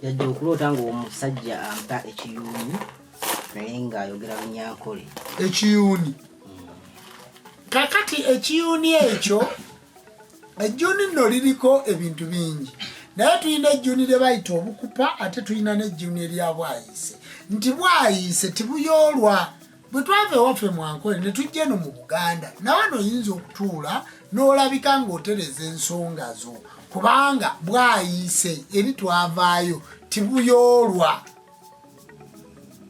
yajja okuloota ng'omusajja ampa ekiyuuni naye ng'ayogera lunyankole ekiyuuni kakati ekiyuuni ekyo ejjuuni nno liriko ebintu bingi naye tulina ejjuuni lye bayita obukupa ate tulina n'ejjuuni eryabwayise nti bwayise tibuyoolwa bwe twava ewaffe mu ankole ne tujja eno mu buganda nawe noyinza okutuula n'olabika ng'otereza ensonga zo kubanga bwayiise eri twavaayo tibuyoolwa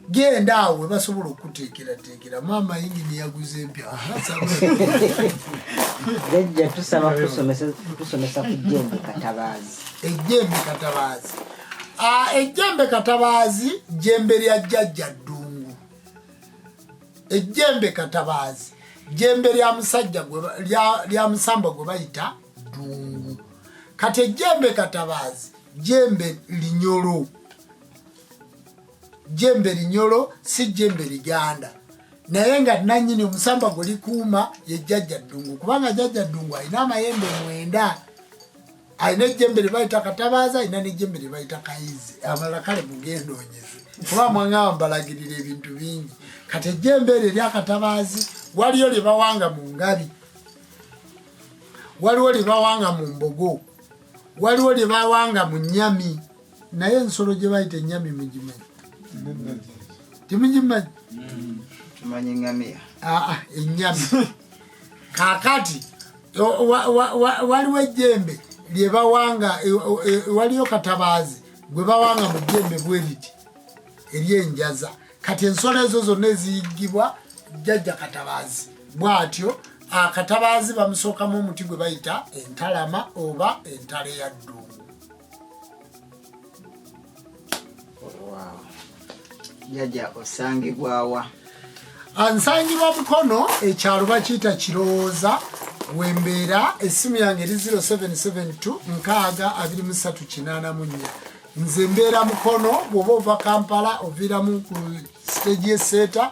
genda awo webasobola okuteekerateekera maama yingini yaguze empya jajja tusaba tusomesa ku jembe katabaazi ejembe katabaazi ah, ejembe katabaazi jembe lya jajja ddu ejjembe katabaazi jjembe lya musajja lya musamba gwe bayita ddungu kati ejjembe katabaazi jjembe linyolo jjembe linyolo si jjembe liganda naye nga nanyini omusamba gwe likuuma ye jjajja ddungu kubanga jjajja ddungu alina amayembe mwenda alina ejjembe lye bayita katabaaza alina n'ejjembe lye bayita kayizi amalala kale mugenda onyeze kuba mwangamba mbalagirira ebintu bingi kati ejjembe eryo eryakatabaazi waliyo lye bawanga mu ngabi waliwo lye bawanga mu mbogo waliwo lye bawanga mu nyami naye ensolo gye bayita ennyami mugimanyi temugimanyi tumanyi ngamiya aa ennyami kakati waliwo ejjembe lye bawanga e, e, e, waliyo katabaazi gwe bawanga mu jjembe bwe liti eryenjaza kati ensolo ezo zonna eziyiggibwa jjajja katabaazi bwatyo akatabaazi bamusookamu omuti gwe bayita entalama oba entale ya ddungu jjaja osangibwawa ah, nsangibwa mukono ekyalo bakiyita kirowooza wembeera essimu yange eri 0772 nkaaga 2384 nze mbeera mukono bwoba ova kampala oviiramu ku stage yeseeta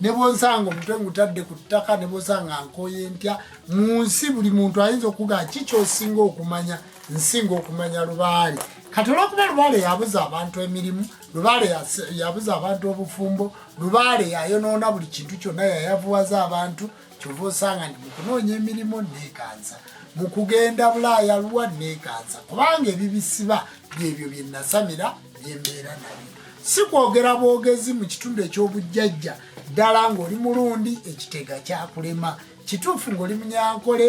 ne bwonsanga omutwe ngutadde ku ttaka ne bwonsanga nkoye ntya mu nsi buli muntu ayinza okuga ki kyosinga okumanya nsinga okumanya lubaale kati olwokuba lubaale yabuza abantu emirimu lubaale yabuza abantu obufumbo lubaale yayonoona buli kintu kyonna yayavuwaza abantu kyova osanga nti mukunoonya emirimu neekansa mu kugenda bulaaya luwa neekansa kubanga ebibisiba byebyo bye nasamira byembeera nabyo si kwogera bwogezi mu kitundu eky'obujjajja ddala ng'oli mulundi ekitega kyakulema kituufu ng'oli munyankole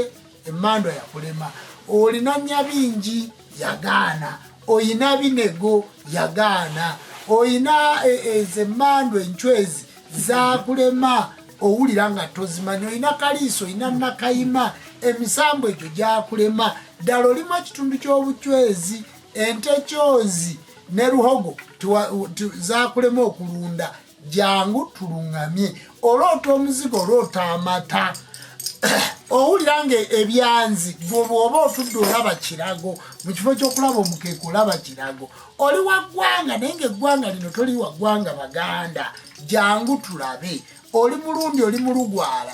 emandwa yakulema olina nyabingi yagaana oyina binego yagaana oyina e, ezo emandwa encwezi zakulema owulira nga tozimanyi olina kaliiso olina nakayima emisambo egyo gyakulema ddala olimu ekitundu ky'obucwezi ente kyozi ne luhogo zakulema okulunda jangu tuluŋŋamye oloota omuzigo oloota amata owulira nga ebyanzi bwoba otudde olaba kirago mu kifo kyokulaba omukeeka olaba kirago oli wa ggwanga naye nga eggwanga lino toli wa ggwanga baganda jangu tulabe oli mulundi oli mulugwala